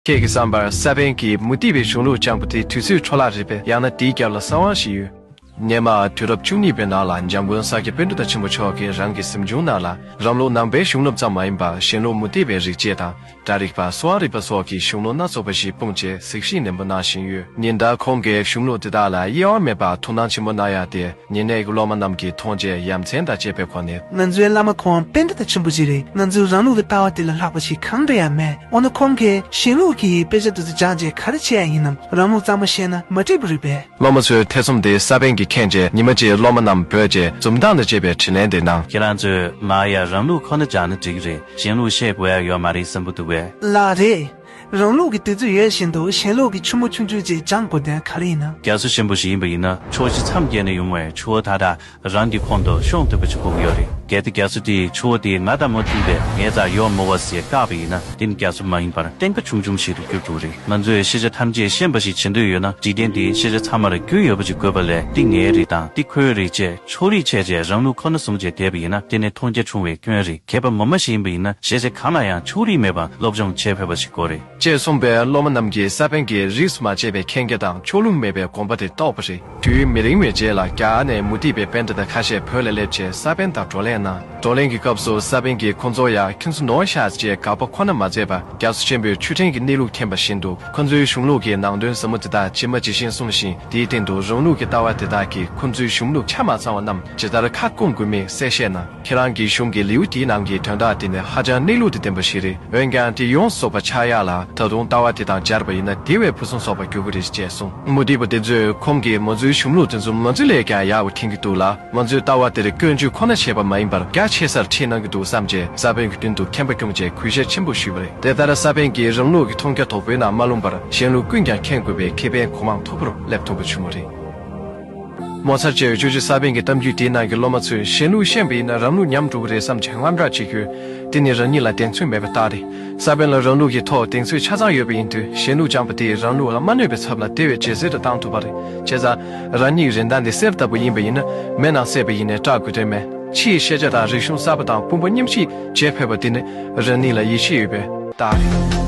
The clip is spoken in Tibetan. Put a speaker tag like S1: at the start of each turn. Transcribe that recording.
S1: ཁྱེད་ཀྱི་བསམ་པར་ས་པཎ་གྱིས་མུ་ཏིག་པའི་གཞུང་ལུགས་སྤྱང་པོ་དེ་དུས་ཚོད་འཕྲོ་བརླག་རེད་པས་ཡང་ན་དེའི་རྒྱབ་ལ་གསང་དབང་ཞིག་ཡོད། སྙེ་མ་དུས་རབས་བཅུ་གཉིས་པའི་ནང་ལ་འཇམ་མགོན་ས་སྐྱ་དཔོན་གྲུབ་རྟགས་ཆེན་པོ་མཆོག་གིས་རང་གི་གཟིམ་ཆུང་ནང་ལ་རང་ལུགས་ནང་པའི་གཞུང་ལུགས་ཙམ་མ་ཡིན་པར་གཞན་ལུགས་མུ་ཏིག་པའི་རིག་བྱེད་དང་སྒྲ་རིག་པ་སོ་ཨ་རིག་པ་སོགས་ཀྱི་གཞུང་ལུགས་སྣ་ཚོགས་པ་ཞིག་སྤུངས་བྱས་གཟིགས་ཞིབ་ནན་པོ་གནང་བཞིན་ཡོད། ཉིན་ལྟར་ཁོང་གིས་གཞུང་ལུགས་དེ་དག་ལ་གཡེང་བ་མེད་པར་ཐུགས་སྣང་ཆེན་པོ་གནང་ཡ་སྟེ། ཉེ་གནས་ཀྱི་སློབ་མ་རྣམས་ཀྱིས་མཐོང་རྗེས་ཡ་མཚན་དང་བཅས་པའི་སྒོ་ནས། ང་ཚོའི་བླ་མ་ཁོང་
S2: དཔེ་མཐའ་དང་ཆེན་པོ་ཞིག་རེད་ང་ཚོའི་རང་ལུགས་ཀྱི་ལྟ་བ་དེ་ལ་ལྷག་པ་ཞིག་གང་འདྲ་ཡང་མེད་འོ་ན་ཁོང་གིས་གཞན་ལུགས་ཀྱི་དཔེ་ཆ་དེ་ཚོ་སྦྱངས་རྗེས་ག་རེ་བྱས་ཡ་ཡིན་ནམ་རང་ལུགས་གཙང་མ་ཤེས་ན་མ་འགྲིག་པ་རེད་པས། སློབ་མ་ཚོའི་ཐེ་ཚོམ་
S1: དེ་ས་པན་གྱིས་ཁེངས་རྗེས་ཉི་མ་གཅིག་སློབ་མ་རྣམས་བོས་རྗེས་འཛུམ་མདངས་དང་བཅས་པའི་དྲིན་ལན་དེ་གནང། ཁྱེད་རང་ཚོས་ང་
S3: ཡང་རང་ལུགས་ཁོ་ན་སྦྱངས་ན་འགྲིག་གི་རེད་གཞན་ལུགས་ཤེས་དགོས་ཡ་ཡོད་མ་རེད་བསམ་གྱི་འདུག་བས། ལགས་རེད།
S2: རང་ལུགས་ཀྱི་དུས་ཚོད་ཡོལ་བཞིན་དུ་གཞན་ལུགས་ཀྱི་ཆུ་མོ་ཆུང་ཆུང་ཅིག་འགྱངས་དགོས་དོན་ག་རེ་ཡིན་ན། རྒྱ་མཚོ་ཆེན་པོ་ཞིག་ཡིན་པ་
S3: ཡིན་ན་ཕྱོགས་བཞི་མཚམས་བརྒྱད་ནས་ཡོང་བའི་ཆུ་བོ་དག་དག་རང་གི་ཁོང་དུ་ཤོང་ཐུབ་པ་ཞིག་དགོས་ཀྱི་ཡོད་རེད་གལ་ཏེ་རྒྱ་མཚོ་དེས་ཆུ་བོ་དེའི་ང་དང་མོ་མཐུན་པས་ངའི་རྩར་གཡོག་མོ་བ་ཟས་བཀག་པ་ཡིན་ན་དེ་ནི་རྒྱ་མཚོ་མ་ཡིན་པར་སྟེང་ཀ་ཆུང་ཆུང་ཞིག་ཏུ་གྱུར་འགྲོ་གི་རེད་ང་ཚོས་ཤེས་བྱ་ཐམས་ཅད་ཤེས་འབའ་ཞིག་བྱེད་འདོད་ཡོད་ན་འཇིག་རྟེན་འདིའི་ཤེས་བྱ་ཚང་མར་རྒྱུས་ཡོད་པ་ཞིག་དགོས་པ་ལས་འདི་ངའི་རེད་དང་འདི་ཁོའི་རེད་ཅེས། ཕྱོགས་རིས་ཆད་རྗེས་རང་ལུས་ཁོ་ན་བཟུང་བྱས་དེད་པ་ཡིན་ན་དེ་ནི་མཐོང་རྒྱ་ཆུང་བའི་སྐྱོན་རེད་མཁས་པ་ངོ་མ་ཞིག་ཡིན་པ་ཡིན་ན་གཞས་ཚིག་གང་ལ་ཡང་ཕྱོགས་རིས་མེད་པར་སློབ་སྦྱོང་བྱེད་ཕོད་པ་ཞིག་དགོས་རེད། ཅེས་གསུངས་པས་སློབ་མ་
S1: རྣམས་ཀྱིས་ས་པཎ་གྱིས་རིས་སུ་མ་ཆད་པའི་མཁྱེན་རྒྱ་དང་ཕྱོགས་ལྷུང་མེད་པའི་དགོངས་པ་དེ་རྟོགས་པ་རེད། དུས་མི་རིང་བའི་རྗེས་ལ་རྒྱ་གར་ནས་མུ་སྟེགས་པའི་དཔེ་འདྲ་དག་ཁ་ཤས་བོད་ལ་སླེབས་རྗེས་ས་པཎ་དང་བགྲོ་གླེང་གནང། བགྲོ་གླེང་གི་སྐབས་སུ་ས་པཎ་གྱིས་ཁོ་ཚོར་ཡ་ཁྱུང་ཚུ་ནོ་ཤཱས་ཅེས་དགག་པ་ཁོ་ན་མ་མཛད་པར་རྒྱ་མཚོ་ཆེན་པོའི་ཆུ་ཕྲན་གྱི་གནས་ལུགས་མཁྱེན་པ་བཞིན་དུ་ཁོ་ཚོའི་གཞུང་ལུགས་ཀྱི་ནང་དོན་ཟབ་མོ་དེ་དག་ཇི་མ་ཇི་བཞིན་གསུངས་ཤིང་དེའི་སྟེང་དུ་རང་ལུགས་ཀྱི་ལྟ་བ་དེ་དག་གིས་ཁོ་ཚོའི་གཞུང་ལུགས་ཆ་མ་ཚང་བ་རྣམས་ཇི་ལྟར་ཁ་བསྐུང་དགོས་མིན་གསལ་བཤད་གནང། ཁྱེད་རང་གི་གཞུང་གི་ལེའུ་དེའི་ནང་གི་དོན་དག་དེ་ནི་ཧ་ཅང་གནས་ལུགས་དང་ལྡན་པ་ཞིག་རེད་འོན་ཀྱང་དེ་ཡོངས་རྫོགས་པ་ཆགས་ཡག་ལ་ད་དུང་ལྟ་བ་དེ་དང་སྦྱར་བ་ཡིན་ན་དེ་བས་ཕུན་སུམ་ཚོགས་པར་འགྱུར་གྱི་རེད་ཅེས་གསུངས། མུ་ཏིག་པ་དེ་ཚོས་ཁོང་གིས་ང་ཚོའི་གཞུང་ལུགས་དེ་ཚོ་ང་ཚོ་ལས་ཀྱང་ཡག་པ་མཁྱེན་གྱི་འདུག་ལ། ང་ཚོས་ལྟ་བ་དེར་སྐྱོན་བརྗོད་ཁོ་ན་བྱས་པ་མ་ཡིན་པར་རྒྱ་ཆེ་སར་ཁྲིད་གནང་གི་འདུག་བསམ་རྗེས་ས་བོན་གྱི་མདུན་དུ་ཁེངས་པ་སྐྱོང་བཅས་གུས་ཞབས་ཆེན་པོ་ཞུས་པ་རེད་དེ་ལྟར་ས་བོན་གྱིས་རང་ལུགས་ཀྱི་མཐོང་རྒྱ་དོག་པོའི་ནང་མ་ལྷུང་པར་གཞན་ལུགས་ཀུན་ཀྱང་ཁེངས་དགོས་པའི་ཁེ་ཕན་གོ་མང་མཐོ་པོར་སླེབས་ཐུབ་པ་བྱུང་བ་རེད། ངོ་ཚར་བཅད་གཅོད་ཀྱིས་ས་བོན་གྱི་གཏམ་རྒྱུད་དེའི་ནང་གི་སློབ་མ་ཚོས་གཞན་ལུགས་ཤེས་པ་ཡིན་ན་རང་ལུགས་ཉམས་འགྲོ་གི་རེད་བསམ་བྱེད་དངངས་སྐྲག་བྱེད་ཁྱོད་དེ་ནི་རང་ཉིད་ལ་གདེང་ཚོད་མེད་པའི་རྟགས་རེད་ས་བོན་ལ་རང་ལུགས་ཀྱི་ཐོག་གདེང་ཚོད་ཆ་ཚང་ཡོད་པ་ཡིན་དུས་གཞན་ལུགས་སྦྱངས་པ་དེས་རང་ལུགས་ལ་མ་གནོད་པའི་ཚབ་ལ་དེ་བས་ཇེ་གསལ་དུ་བཏང་ཐུབ་པ་རེད་བྱས་ཙང། རང་ཉིད་རིན་ཐང་འདི་གསེར་ལྟ་བུ་ཡིན་པ་ཡིན་ན་མེད་ནང་གསེས་པ་ཡིན་ནས་སྐྲག་དགོས་དོན་མེད། ཕྱིའི་ཤེས་བྱ་དང་རིག་གཞུང་གསར་པ་དང་ཀུན་པོ་མཉམ་གཤིབ་བྱེད་ཕོད་པ་དེ་ནི་རང་ཉིད་ལ་ཡིད་ཆེས་ཡོད་པས། དང།